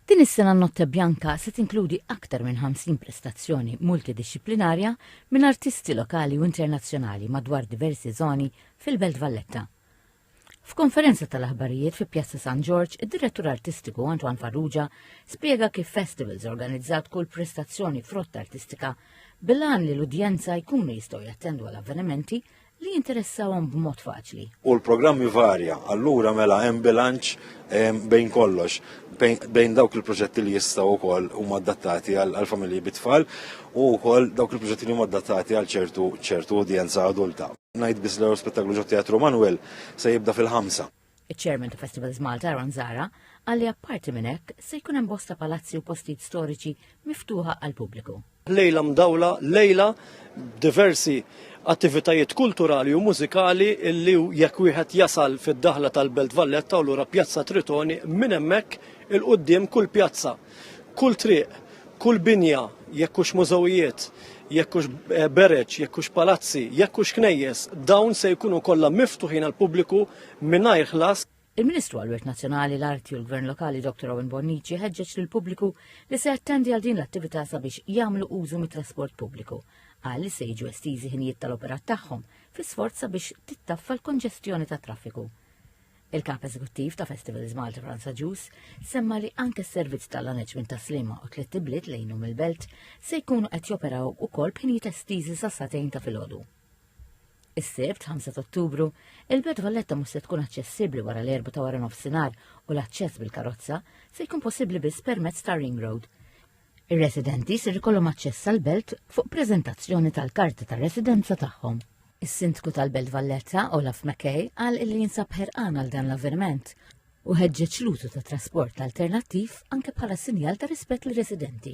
Din is-sena n-Notte Bianca se tinkludi aktar minn 50 prestazzjoni multidixxiplinarja minn artisti lokali u internazzjonali madwar diversi żoni fil-Belt Valletta. F'konferenza tal-aħbarijiet fi Pjazza San Ġorġ, id-Direttur Artistiku Antoine Farrugia spjega kif Festivals organizzat kull prestazzjoni f'rotta artistika bil-għan li l-udjenza jkunu jistgħu jattendu għal avvenimenti li jinteressawhom b'mod faċli. U l-programm jivarja, allura mela hemm bilanċ bejn kollox, bejn dawk il-proġetti li jistgħu wkoll huma adattati għal familji bit-tfal u wkoll dawk il-proġetti li huma adattati għal ċertu ċertu udjenza adulta. Ngħid biss l-Spettaclu Ġo Teatru Manuel se jibda fil-ħamsa. Iċ-Chairman ta' Festivals Malta Aaron Zara qal li apparti minn hekk se jkun hemm bosta palazzi u postijiet storiċi miftuħa għall-pubbliku. Lejla mdawla, lejla b'diversi attivitajiet kulturali u mużikali illi jekk wieħed jasal fid-daħla tal-Belt Valletta u lura Pjazza Tritoni minn hemmhekk 'il quddiem kull pjazza Kull triq, kull binja, jekk hux mużewijiet, jekk hux eh, bereġ, jekk hux palazzi, jekk hux knejjes, dawn se jkunu kollha miftuħin għall-pubbliku mingħajr ħlas. Il-Ministru għall-Wirt Nazzjonali, l-Arti u l-Gvern Lokali Dr. Owen Bonnici ħeġġeġ lill pubbliku li se jattendi għal din l-attività sabiex jagħmlu użu mit-trasport pubbliku. Qal li se jiġu estiżi ħinijiet tal-operat tagħhom fl-isforz sabiex tittaffa l-konġestjoni tat-traffiku. Il-Kap Eżekuttiv ta' Festivals Malta Franza Ġus semma li anke s-servizz tal-aneġment ta' Slima u tliet ibliet lejnu mill-belt se jkunu qed joperaw ukoll b'ħinijiet estiżi sa satejn ta' filgħodu. Is-Sibt, 5 Ottubru, il-Belt Valletta mhux se tkun aċċessibbli wara l-erba ta' wara nofsinhar u l-aċċess bil-karozza se jkun possibbli biss permezz ta' Ring Road. Ir-residenti ser ikollhom aċċess għall-belt fuq preżentazzjoni tal-karta ta' residenza tagħhom. Is-Sindku tal-Belt Valletta, Olaf McKay, qal illi jinsab ħerqan għal dan l-avverment u ħeġġeġ l-użu ta' trasport alternattiv anke bħala sinjal ta' rispett lir-residenti.